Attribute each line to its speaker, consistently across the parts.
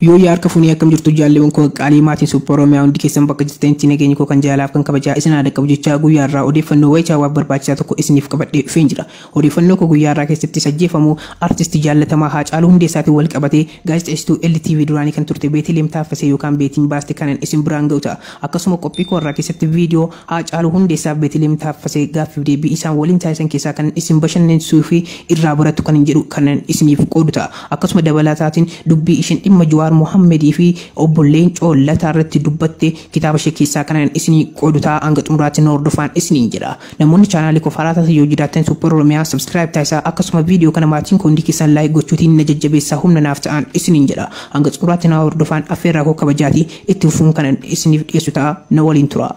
Speaker 1: Yooyyaa harka funee akkam jirtu jaalleewwan koo qaqqaalii maatiin Suuppoo Oromiyaa hundi keessan bakka jirtanitti nageenyi koo kan jaalaaf kan kabajaa isin haa dhaqqabu jechaa guyyaa irraa odeeffannoo wayichaawaaf barbaachisaa tokko isiniif qabadhee dhufeen jira. Odeeffannoo koo guyyaa irraa keessattis ajjeefamuu artisti jaallatamaa Haacaaluu Hundeessaatiin wal qabatee gaazexeessituu LTV duraanii kan turte Beeteliyeem Taaffasee yookaan Beetiin baaste kanan isin biraan ga'u ta'a. Akkasuma qophii koo irraa keessatti viidiyoo Haacaaluu Hundeessaaf Beeteliyeem Taaffasee gaaffiif deebii isaan waliin taasisan keessaa kanan isin bashannansiisuu fi irraa barattu kanan jedhu kanan isiniif qoodu ta'a. Akkasuma dabalataatiin dubbii ishiin dhimma Juwaar Mohammed fi obbo Leencoo Lataa irratti dubbatte kitaaba ishee keessaa kanan isinii qoodu ta'a hanga xumuraatti na hordofaan isiniin jedha. Namoonni chaanaalii koof haaraa taatan yoo jiraattan Super Oromiyaa subscribe taasisaa akkasuma viidiyoo kana maatiin koo hundi keessan like gochuutiin na jajjabeessaa humna naaf ta'aan isiniin jedha. Hanga xumuraatti na hordofaan affeerraa koo kabajaati itti fufuun kanan isiniif dhiyeessu ta'a na waliin turaa.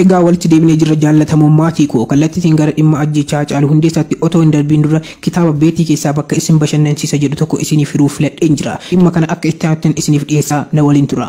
Speaker 1: Egaa walitti deebinee jirra jaallatamoo maatii koo kallattiitiin gara dhimma ajjeechaa Hacaaluu Hundeessaatti otoo hin darbiin dura kitaaba beetii keessaa bakka isin bashannansiisa jedhu tokko isiniif hiruuf filadheen jira. Dhimma kana akka itti aanuttin isiniif dhiyeessa na waliin tura.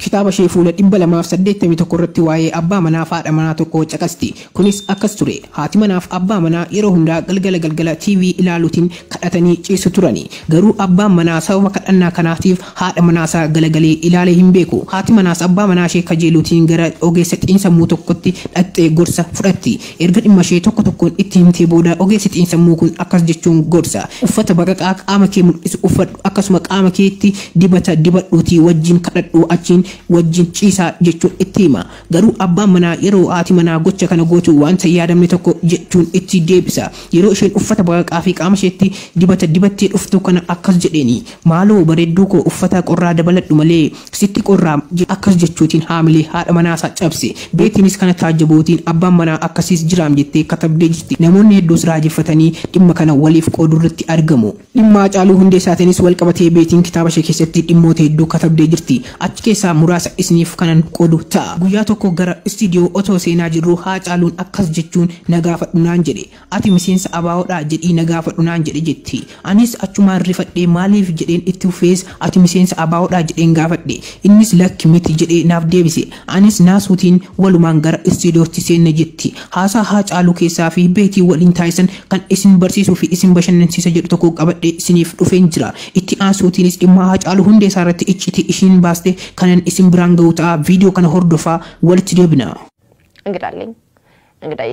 Speaker 1: Kitaaba ishee fuula 281 irratti waa'ee abbaa manaa fi haadha manaa tokkoo caqasti. Kunis akkas ture, Haati manaa fi abbaa manaa yeroo hundaa galgala galgala TV ilaaluutiin kadhatanii ciisu turani. Garuu abbaan manaa sababa kadhannaa kanaatiif haadha manaa isaa galagalee ilaalee hin beeku. Haati manaas abbaa manaa ishee kajeeluutiin gara ogeessa xiinsammuu tokkotti dhaqxee gorsa fudhatti. Erga dhimmashee tokko tokkoon itti himtee booda ogeessi xiinsammuu kun akkas jechuun gorsa, Uffata baqaqaa qaama kee mul'isu uffadhu, akkasuma qaama keetti dibata dibadhuutii wajjin kadhadhu, achiin wajjin ciisaa jechuun itti hima. Garuu abbaan manaa yeroo haati manaa gocha kana gootu wanta hin yaadamne tokko jechuun itti deebisa. Yeroo isheen uffata baqaqaafi qaamasheetti dibata dibattee dhuftu kana akkas jedheeni, Maaloo bareedduukoo uffata qorraa dabaladhu malee, Sitti qorraam! jedhe akkas jechuutiin haamilee haadha manaasaa cabse. Beetiinis kana taajjabuutiin abbaan manaa akkasiis jiraam jettee katabdee jirti. Namoonni hedduus raajeffatanii dhimma kana waliif qoodurratti argamu. Dhimma Hacaaluu Hundeessaatiinis walqabatee Beetiin kitaabashee keessatti dhimmoota hedduu katabdee jirti. Achi keessaa muraasa isiniif kanan qoodu ta'a. Guyyaa tokko gara istiidiyoo otoo seenaa jirruu Haacaaluun akkas jechuun na gaafadhu naan jedhe. Ati miseensa ABO dhaa? jedhii na gaafadhu naan jedhe jetti. Anis achumaan rifadhee maaliif? jedheen itti fufees ati miseensa ABO dhaa? jedheen gaafadhe. Innis lakki miti jedhee naaf deebise. Anis naasuutiin walumaan gara istiidiyootti seenne jetti. Haasaa Haacaaluu keessaa fi Beetii waliin taasisan kan isin barsiisuu fi isin bashannansiisa jedhu tokko qabadhee isiniif dhufeen jira. Itti aansuutiinis dhimma Haacaaluu Hundeessaa irratti iccitii ishiin baaste kanan isin biraan gahu ta'a. Viidiyoo kana hordofaa walitti deebina. እንግዳ አለኝ እንግዳዬ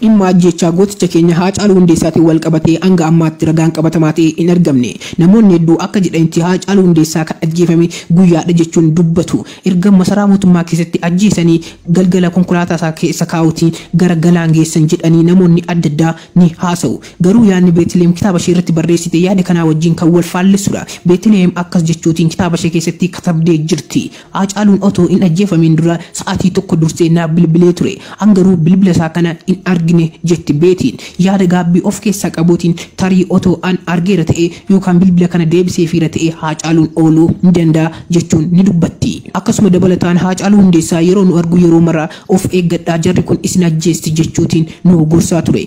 Speaker 2: Dhimma ajjeechaa
Speaker 1: gooticha keenya Haacaaluu Hundeessaatiin walqabatee hanga ammaatti ragaan qabatamaa ta'e hin argamne. Namoonni hedduu akka jedhanitti Haacaaluu Hundeessaa kan ajjeefame guyyaadha jechuun dubbatu. Erga masaraa mootummaa keessatti ajjeesanii galgala konkolaataasaa keessa kaa'uutiin gara galaan geessan jedhanii namoonni addaddaa ni haasa'u. Garuu yaadni Beeteliheem kitaabasheerratti barreessite yaada kanaa wajjin kan walfaallessudha. Beeteliheem akkas jechuutiin kitaabashee keessatti katabdee jirti. Haacaaluun otoo hin ajjeefamiin dura sa'aatii tokko dursee naaf bilbilee ture. An garuu bilbila isaa kana hin argine, jetti Beetiin yaada gaabbii of keessaa qabuutiin. Tarii otoo an argeera ta'ee yookaan bilbila kana deebiseefiira ta'ee Haacaaluun ooluu ni danda'a, jechuun ni dubbatti. Akkasuma dabalataan Haacaaluu Hundeessaa yeroo nu argu yeroo mara of eeggadhaa jarri kun isin ajjeesti jechuutiin nu gorsaa ture.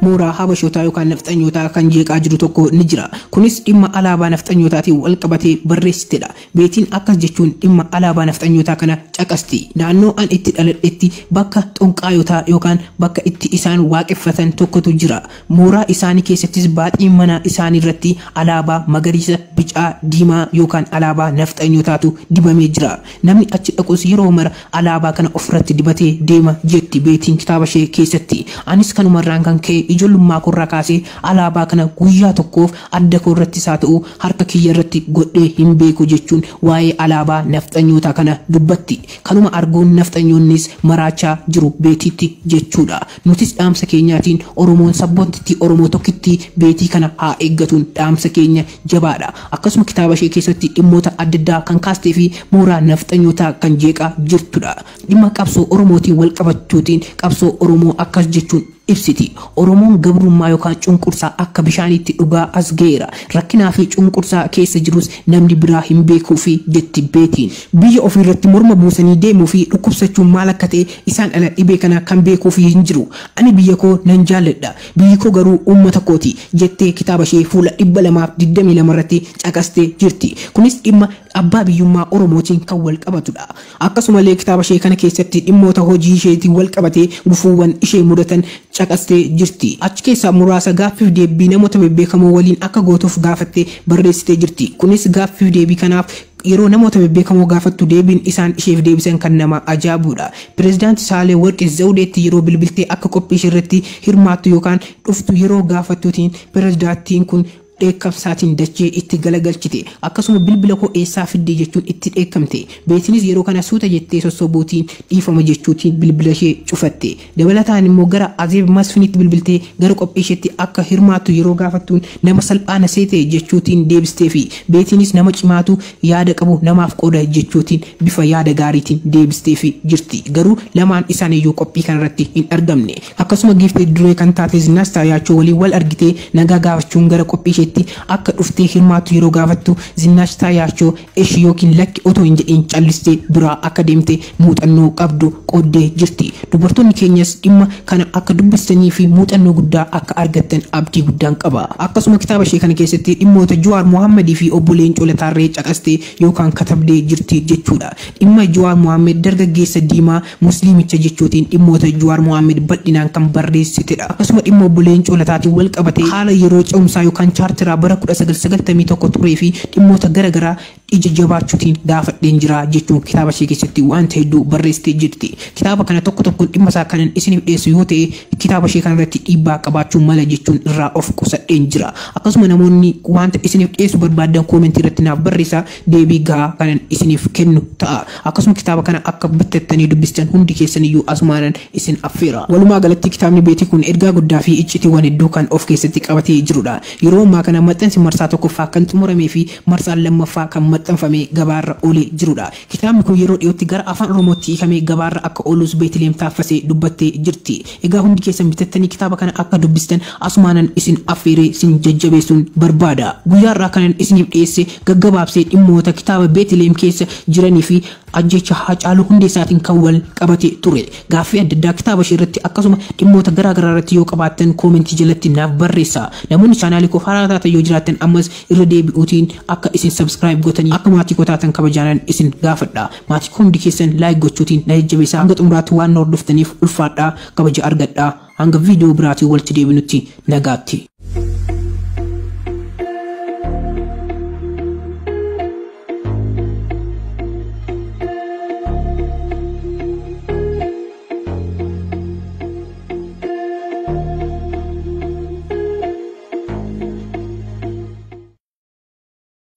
Speaker 1: mooraa Habashootaa yookaan Nafxanyootaa kan jeeqaa jiru tokko ni jira. Kunis dhimma alaabaa Nafxanyootaatiin walqabatee barreessitedha. Beetiin akkas jechuun dhimma alaabaa Nafxanyootaa kana caqasti, Naannoo an itti dhaladhetti bakka xonqaayotaa yookaan bakka itti isaan waaqeffatan tokkotu jira. Mooraa isaanii keessattis baaxii mana isaaniirratti alaabaa magariisa, bicaa, diimaa yookaan alaabaa Nafxanyootaatu dibamee jira. Namni achi dhaqus yeroo mara alaabaa kana ofirratti dibatee deema, jetti Beetiin kitaabashee keessatti. Anis kanumarraan kan ka'e ijoollummaakooirraa kaasee alaabaa kana guyyaa tokkoof addakoorrattis haa ta'u harka kiyyarratti godhee hin beeku jechuun waa'ee alaabaa nafxanyootaa kana dubbatti. Kanuma arguun nafxanyoonnis maraachaa jiru Beetiitti jechuudha. Nutis dhaamsa keenyaatiin Oromoon sabboontittii Oromoo tokkittii Beetii kana haa eeggatuun dhaamsa keenya jabaadha. Akkasuma kitaaba ishee keessatti dhimmoota addaddaa kan kaastee fi mooraa nafxanyootaa kan jeeqaa jirtudha. Dhimma qabsoo Oromootiin walqabachuutiin qabsoo Oromoo akkas jechuun ibsiti. Oromoon gabrummaa yookaan cunqursaa akka bishaaniitti dhugaa as gaheera. Rakkinaa fi cunqursaa keessa jirus namni biraa hin beekuufi jetti Beetiin. Biyya ofiirratti morma buusanii deemuu fi dhukkubsachuun maal akka ta'e isaan ala dhibee kana kan beekuufi hin jiru. Ani biyya koo nan jaalladha. Biyyi koo garuu uummata kooti, jettee kitaaba ishee fuula 222 irratti caqastee jirti. Kunis dhimma abbaa biyyummaa Oromootiin kan wal qabatu dha. Akkasumallee kitaaba ishee kana keessatti dhimmoota hojii isheetiin wal qabatee gufuuwwan ishee mudatan caqastee jirti. Achi keessaa muraasa gaaffiif deebbii namoota bebbeekamoo waliin akka gootuuf gaafattee barreessitee jirti. Kunis gaaffiif deebii kanaaf Yeroo namoota bebbeekamoo gaafattu deebiin isaan isheef deebisan kan nama ajaabuudha. Pirezidaanti Saahilewarqi Zawudeetti yeroo bilbiltee akka qophii isheerratti hirmaattu yookaan dhuftu yeroo gaafattuutiin pirezidaattiin kun dheekkamsaatiin dachee itti galagalchite. Akkasuma bilbila koo eessaa fidde jechuun itti dheekkamte. Beetinis yeroo kana suuta jettee sossobuutiin dhiifama jechuutiin bilbilashee cufatte. Dabalataan immoo gara Azeeb Masfinitti bilbiltee gara qophiisheetti akka hirmaattu yeroo gaafattuun nama salphaa na seete jechuutiin deebisteefi. Beetiinis nama cimaatu yaada qabu namaaf qooda jechuutiin bifa yaada gaariitiin deebisteefi jirti. Garuu lamaan isaaniiyyuu qophii kanarratti hin argamne. Akkasuma Giiftii Duree kan taate Zinash Taayaachoo waliin wal argitee nagaa gaafachuun gara qophiisheetti akka dhuftee hirmaattu yeroo gaafattu Zinash Taayaachoo Eshi ykn lakki otoo hin jedhiin callistee biraa akka deemte muuxannoo qabdu qooddee jirti. Dubartoonni keenyas dhimma kana akka dubbistanii fi muuxannoo guddaa akka argattan abdii guddaan qaba. Akkasuma kitaaba ishee kana keessatti dhimmoota Juwaar Mohammed fi Obbo Leencoo Lataarree caqastee yookaan katabdee jirti jechuudha. Dhimma Juwaar Mohammed dargaggeessa diimaa Musliimicha jechuutiin dhimmoota Juwaar Mohaammed bal'inaan kan barreessitedha. Akkasuma dhimma Obbo Leencoo Lataatiin wal qabatee haala yeroo ce'umsaa yookaan Chaarteraa bara 1991 turee fi dhimmoota gara garaa ija jabaachuutiin gaafadheen jira jechuun kitaaba ishee keessatti waanta hedduu barreessitee jirti. Kitaaba kana tokko tokkoon dhimma isaa kanan isiniif dhiyeessu yoo ta'e kitaaba ishee kana irratti dhiibbaa qabaachuu mala jechuun irraa of qusadheen jira. Akkasuma namoonni waanta isiniif dhiyeessu barbaaddan koomentii irratti naaf barreessaa. deebii gahaa kanan isiniif kennu ta'a. Akkasuma kitaaba kana akka bittattanii dubbistan hundi keessaniyyuu asumaanan isin affeera. Walumaa galatti kitaabni Beetii kun ergaa guddaa fi iccitiiwwan hedduu kan of keessatti qabatee jirudha. Yeroo ammaa kana maxxansi marsaa tokkoffaa kan xumuramee fi marsaan lammaffaa kan maxxanfamee gabaarra oolee jirudha. Kitaabni kun yeroo dhiyootti gara Afaan Oromootti hiikamee gabaarra akka oolus Beetiliheem Taaffasee dubbattee jirti. Egaa hundi keessan bitattanii kitaaba kana akka dubbistan asumaanan isin affeeree sin jajjabeessuun barbaada. Guyyaa har'aa kanan isiniif dhiyeesse gaggabaabsee dhimmoota kitaaba Beeteliheem keessa jiranii fi ajjeechaa Haacaaluu Hundeessaatiin kan wal qabate ture. Gaaffii adda addaa kitaaba ishee irratti akkasuma dhimmoota garaa garaa irratti yoo qabaattan koomentii jalatti naaf barreessaa. Namoonni chaanaalii koof haaraa taatan yoo jiraattan ammas irra deebi'uutiin akka isin subscribe gotanii akka maatii koo taatan kabajaanan isin gaafadha. Maatii koo hundi keessan like gochuutiin na jajjabeessaa hanga xumuraatti waan na hordoftaniif ulfaadhaa kabaja argadhaa hanga viidiyoo biraatiin walitti deebinutti nagaatti.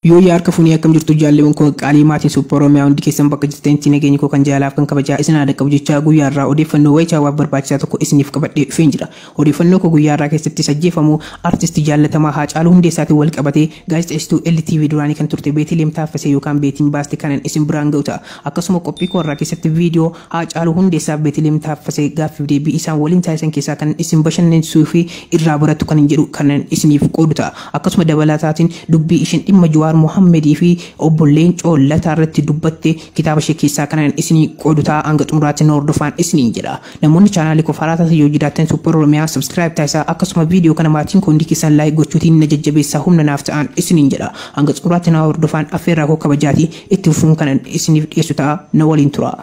Speaker 1: Yooyyaa harka funee akkam jirtu jaallewan koo qaqqaalii maatiin Suuppa Oromiyaa hundi keessan bakka jirtanitti nageenyi koo kan jaalaaf kan kabajaa isin haa dhaqqabu jechaa guyyaa har'aa odeeffannoo wayitaawaaf barbaachisaa tokko isiniif qabadhee dhufeen jira. Odeeffannoo koo guyyaa har'aa keessattis ajjeefamuu Artisti jaallatamaa Haacaaluu Hundeessaatiin wal qabatee gaazexeessituu LTV duraanii kan turte Beeteliyeem Taaffasee yookaan Beetiin baaste kanan isin biraan ga'u ta'a. Akkasuma qophii koo har'aa keessatti viidiyoo Haacaaluu Hundeessaaf Beeteliyeem Taaffasee gaaffiif deebii isaan waliin taasisan keessaa kanan isin bashannansiisuu fi irraa barattu kanan jedhu kanan isiniif qoodu ta'a. Akkasuma dabalataatiin dubbii ishiin dhimma Juwaar Mohammed fi Obbo Leencoo Lataa irratti dubbatte kitaaba ishee keessaa kanan isinii qoodu ta'a hanga xumuraatti na hordofaan isiniin jedha. Namoonni chaanaalii koof haaraa taatan yoo jiraattan Super Oromiyaa subscribe taasisaa akkasuma viidiyoo kana maatiin koo hundi keessan like gochuutiin na jajjabeessaa humna naaf ta'aan isiniin jedha. Hanga xumuraatti na hordofaan affeerraa koo kabajaati itti fufuun kanan isiniif dhiyeessu ta'a na waliin turaa.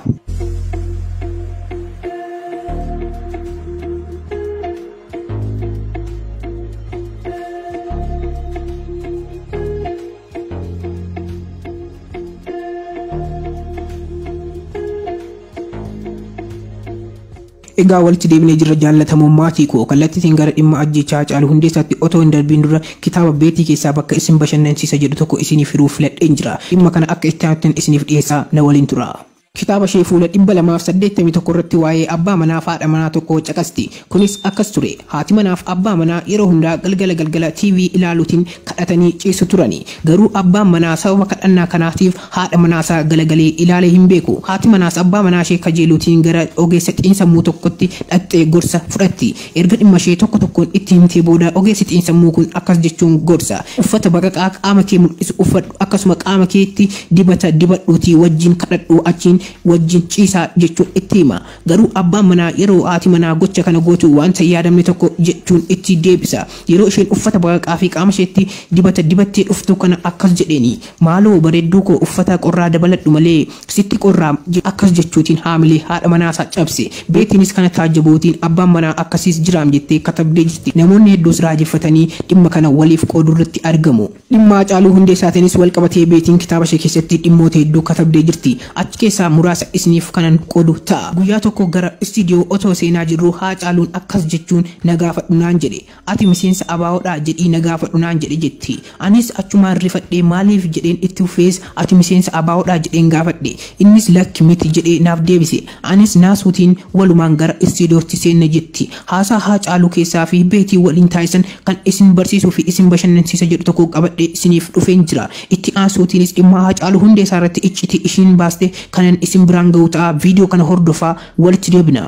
Speaker 1: Egaa walitti deebinee jirra jaallatamoo maatii koo kallattiitiin gara dhimma ajjeechaa Hacaaluu Hundeessaatti otoo hin darbiin dura kitaaba beetii keessaa bakka isin bashannansiisa jedhu tokko isiniif hiruuf filadheen jira. Dhimma kana akka itti aanuttin isiniif dhiyeessa na waliin tura. Kitaaba ishee fuula 281 irratti waa'ee abbaa manaaf haadha manaa tokkoo caqasti. Kunis akkas ture, Haati manaaf abbaa manaa yeroo hundaa galgala galgala TV ilaaluutiin kadhatanii ciisu turani. Garuu abbaan manaa sababa kadhannaa kanaatiif haadha manaasaa galagalee ilaalee hin beeku. Haati manaas abbaa manaashee kajeeluutiin gara ogeessa xiinsammuu tokkotti dhaqxee gorsa fudhatti. Erga dhimmashee tokko tokkoon itti himtee booda ogeessi xiinsammuu kun akkas jechuun gorsa, Uffata baqaqaa qaama kee mul'isu uffadhu, akkasuma qaama keetti dibata dibadhuutii wajjin kadhadhu, achiin wajjin ciisaa jechuun itti hima. Garuu abbaan manaa yeroo haati manaa gocha kana gootu wanta hin yaadamne tokko jechuun itti deebisa. Yeroo isheen uffata baqaqaafi qaamasheetti dibata dibattee dhuftu kana akkas jedheeni, Maaloo bareedduukoo uffata qorraa dabaladhu malee, Sitti qorraa? jedhe akkas jechuutiin haamilee haadha manaasaa cabse. Beetiinis kana taajjabuutiin abbaan manaa akkasiis jiraam jettee katabdee jirti. Namoonni hedduus raajeffatanii dhimma kana waliif qooduurratti argamu. Dhimma Hacaaluu Hundeessaatiinis walqabatee Beetiin kitaabashee keessatti dhimmoota hedduu katabdee jirti. Achi keessaa muraasa isiniif kanan qoodu ta'a. Guyyaa tokko gara istiidiyoo otoo seenaa jirruu Haacaaluun akkas jechuun na gaafadhu naan jedhe. Ati miseensa ABO dhaa? jedhii na gaafadhu naan jedhe jetti. Anis achumaan rifadhee maaliif? jedheen itti fufees ati miseensa ABO dhaa? jedheen gaafadhe. Innis lakki miti jedhee naaf deebise. Anis naasuutiin walumaan gara istiidiyootti seenne jetti. Haasaa Haacaaluu keessaa fi Beetii waliin taasisan kan isin barsiisuu fi isin bashannansiisa jedhu tokko qabadhee isiniif dhufeen jira. Itti aansuutiinis dhimma Haacaaluu Hundeessaa irratti iccitii ishiin baaste kanan isin biraan gahu ta'a. Viidiyoo kana hordofaa walitti deebina.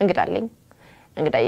Speaker 1: እንግዳ አለኝ
Speaker 3: እንግዳዬ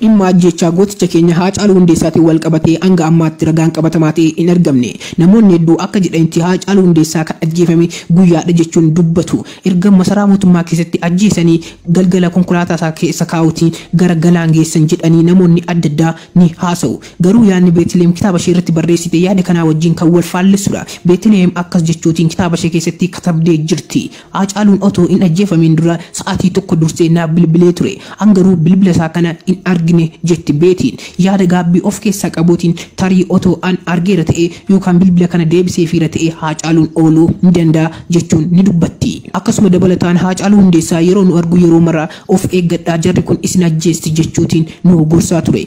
Speaker 2: Dhimma
Speaker 1: ajjeechaa gooticha keenya Haacaaluu Hundeessaatiin walqabatee hanga ammaatti ragaan qabatamaa ta'e hin argamne. Namoonni hedduu akka jedhanitti Haacaaluu Hundeessaa kan ajjeefame guyyaadha jechuun dubbatu. Erga masaraa mootummaa keessatti ajjeesanii galgala konkolaataasaa keessa kaa'uutiin gara galaan geessan jedhanii namoonni addaddaa ni haasa'u. Garuu yaadni Beeteliheem kitaabasheerratti barreessite yaada kanaa wajjin kan walfaallessudha. Beeteliheem akkas jechuutiin kitaabashee keessatti katabdee jirti. Haacaaluun otoo hin ajjeefamiin dura sa'aatii tokko dursee naaf bilbilee ture. An garuu bilbila isaa kana hin argine, jetti Beetiin yaada gaabbii of keessaa qabuutiin. Tarii otoo an argeera ta'ee yookaan bilbila kana deebiseefiira ta'ee Haacaaluun ooluu ni danda'a, jechuun ni dubbatti. Akkasuma dabalataan Haacaaluu Hundeessaa yeroo nu argu yeroo mara of eeggadhaa jarri kun isin ajjeesti jechuutiin nu gorsaa ture.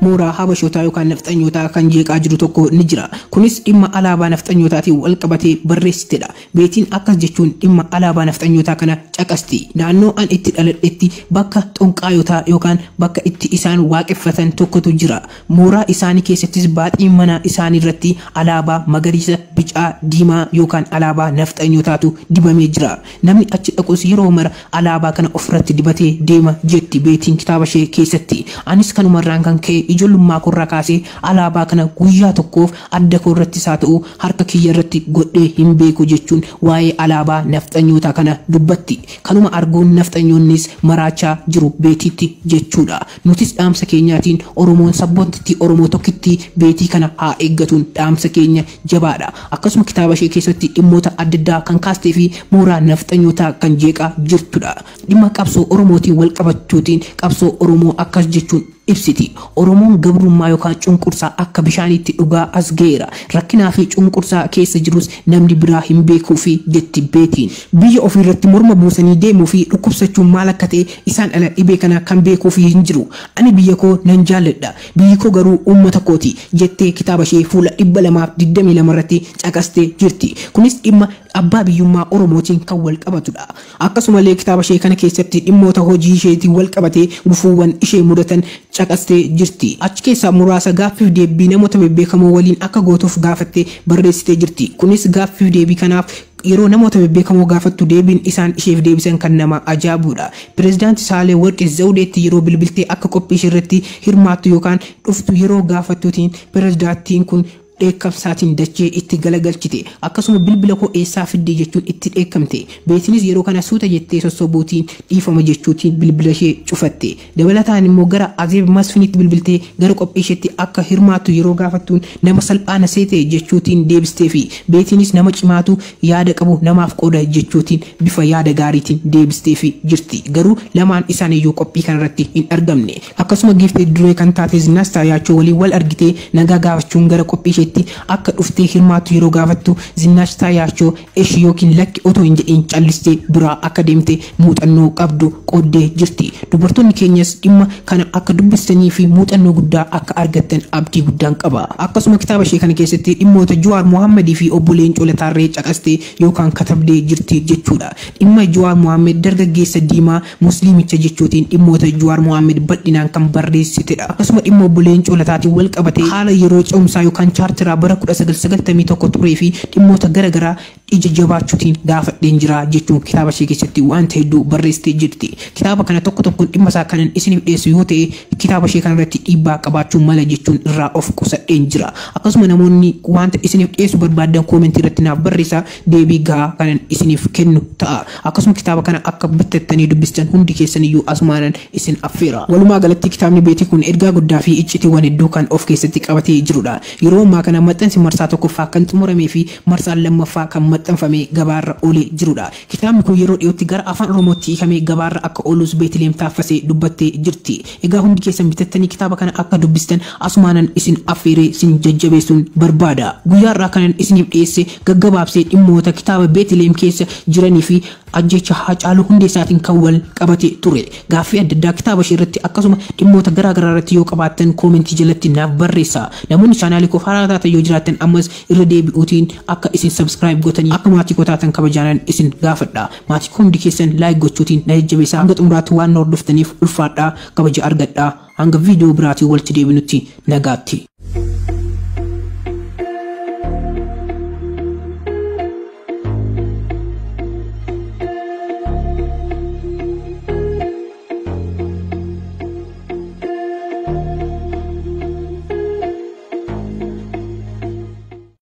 Speaker 1: mooraa Habashootaa yookaan Nafxanyootaa kan jeeqaa jiru tokko ni jira. Kunis dhimma alaabaa Nafxanyootaatiin walqabatee barreessitedha. Beetiin akkas jechuun dhimma alaabaa Nafxanyootaa kana caqasti, Naannoo an itti dhaladhetti bakka xonqaayotaa yookaan bakka itti isaan waaqeffatan tokkotu jira. Mooraa isaanii keessattis baaxii mana isaaniirratti alaabaa magariisa, bicaa, diimaa yookaan alaabaa Nafxanyootaatu dibamee jira. Namni achi dhaqus yeroo mara alaabaa kana ofirratti dibatee deema, jetti Beetiin kitaabashee keessatti. Anis kanumarraan kan ka'e ijoollummaakooirraa kaasee alaabaa kana guyyaa tokkoof addakoorrattis haa ta'u harka kiyyarratti godhee hin beeku jechuun waa'ee alaabaa nafxanyootaa kana dubbatti. Kanuma arguun nafxanyoonnis maraachaa jiru Beetiitti jechuudha. Nutis dhaamsa keenyaatiin Oromoon sabboontittii Oromoo tokkittii Beetii kana haa eeggatuun dhaamsa keenya jabaadha. Akkasuma kitaaba ishee keessatti dhimmoota addaddaa kan kaastee fi mooraa nafxanyootaa kan jeeqaa jirtudha. Dhimma qabsoo Oromootiin walqabachuutiin qabsoo Oromoo akkas jechuun ibsiti, Oromoon gabrummaa yookaan cunqursaa akka bishaaniitti dhugaa as gaheera. Rakkinaa fi cunqursaa keessa jirus namni biraa hin beekuufi jetti Beetiin. Biyya ofiirratti morma buusanii deemuu fi dhukkubsachuun maal akka ta'e isaan ala dhibee kana kan beekuufi hin jiru. Ani biyya koo nan jaalladha. Biyyi koo garuu uummata kooti, jettee kitaabashee fuula 222 irratti caqastee jirti. Kunis dhimma abbaa biyyummaa Oromootiin kan walqabatudha. Akkasumallee kitaabashee kana keessatti dhimmoota hojiisheetiin walqabatee gufuuwwan ishee mudatan caqastee jirti. Achi keessaa muraasa gaaffiif deebbii namoota bebbeekamoo waliin akka gootuuf gaafattee barreessitee jirti. Kunis gaaffiif deebii kanaaf Yeroo namoota bebbeekamoo gaafattu deebiin isaan isheef deebisan kan nama ajaabuudha. Pirezidaanti Saahilewarqi Zawudeetti yeroo bilbiltee akka qophii isheerratti hirmaattu yookaan dhuftu yeroo gaafattuutiin pirezidaattiin kun dheekkamsaatiin dachee itti galagalchite. Akkasuma bilbila koo eessaa fidde jechuun itti dheekkamte. Beetinis yeroo kana suuta jettee sossobuutiin dhiifama jechuutiin bilbilashee cufatte. Dabalataan immoo gara Azeeb Masfiniitti bilbiltee gara qophiisheetti akka hirmaattu yeroo gaafattuun nama salphaa na seete jechuutiin deebisteefi. Beetiinis nama cimaatu yaada qabu namaaf qooda jechuutiin bifa yaada gaariitiin deebisteefi jirti. Garuu lamaan isaaniiyyuu qophii kanarratti hin argamne. Akkasuma giiftii duree kan taate Zinnash Taayaachoo waliin wal argitee nagaa gaafachuun gara qophiisheetti akka dhuftee hirmaattu yeroo gaafattu Zinnash Taayaachoo Eshi ykn lakki otoo hin jedhiin callistee biraa akka deemte muuxannoo qabdu qooddee jirti. Dubartoonni keenyas dhimma kana akka dubbistanii fi muuxannoo guddaa akka argattan abdii guddaan qaba. Akkasuma kitaaba ishee kana keessatti dhimmoota Juwaar Mohammed fi Obbo Leencoo Lataarree caqastee yookaan katabdee jirti jechuudha. Dhimma Juwaar Mohammed dargaggeessa diimaa Musliimicha jechuutiin dhimmoota Juwaar Mohaammed bal'inaan kan barreessitedha. Akkasuma dhimma Obbo Leencoo Lataatiin wal qabatee haala yeroo ce'umsaa yookaan Chaarteraa bara 1991 turee fi dhimmoota gara garaa ija jabaachuutiin gaafadheen jira jechuun kitaaba ishee keessatti waanta hedduu barreessitee jirti. Kitaaba kana tokko tokkoon dhimma isaa kanan isiniif dhiyeessu yoo ta'e kitaaba ishee kana irratti dhiibbaa qabaachuu mala jechuun irraa of qusadheen jira. Akkasuma namoonni waanta isiniif dhiyeessu barbaaddan koomentii irratti naaf barreessaa. deebii gahaa kanan isiniif kennu ta'a. Akkasuma kitaaba kana akka bittattanii dubbistan hundi keessaniyyuu asumaanan isin affeera. Walumaa galatti kitaabni Beetii kun ergaa guddaa fi iccitiiwwan hedduu kan of keessatti qabatee jirudha. Yeroo ammaa kana maxxansi marsaa tokkoffaa kan xumuramee fi marsaan lammaffaa kan maxxanfamee gabaarra oolee jirudha. Kitaabni kun yeroo dhiyootti gara Afaan Oromootti hiikamee gabaarra akka oolus Beetiliheem Taaffasee dubbattee jirti. Egaa hundi keessan bitattanii kitaaba kana akka dubbistan asumaanan isin affeeree sin jajjabeessuun barbaada. Guyyaa har'aa kanan isiniif dhiyeesse gaggabaabsee dhimmoota kitaaba Beetliheem keessa jiranii fi ajjeechaa Haacaaluu Hundeessaatiin kan wal qabate ture. Gaaffii adda addaa kitaaba ishee irratti akkasuma dhimmoota garaa garaa irratti yoo qabaattan koomentii jalatti naaf barreessaa. Namoonni chaanaalii koof haaraa taatan yoo jiraattan ammas irra deebi'uutiin akka isin subscribe gotanii akka maatii koo taatan kabajaanan isin gaafadha. Maatii koo hundi keessan like gochuutiin na jajjabeessaa hanga xumuraatti waan na hordoftaniif ulfaadhaa kabaja argadhaa hanga video biraatiin walitti deebinutti nagaatti.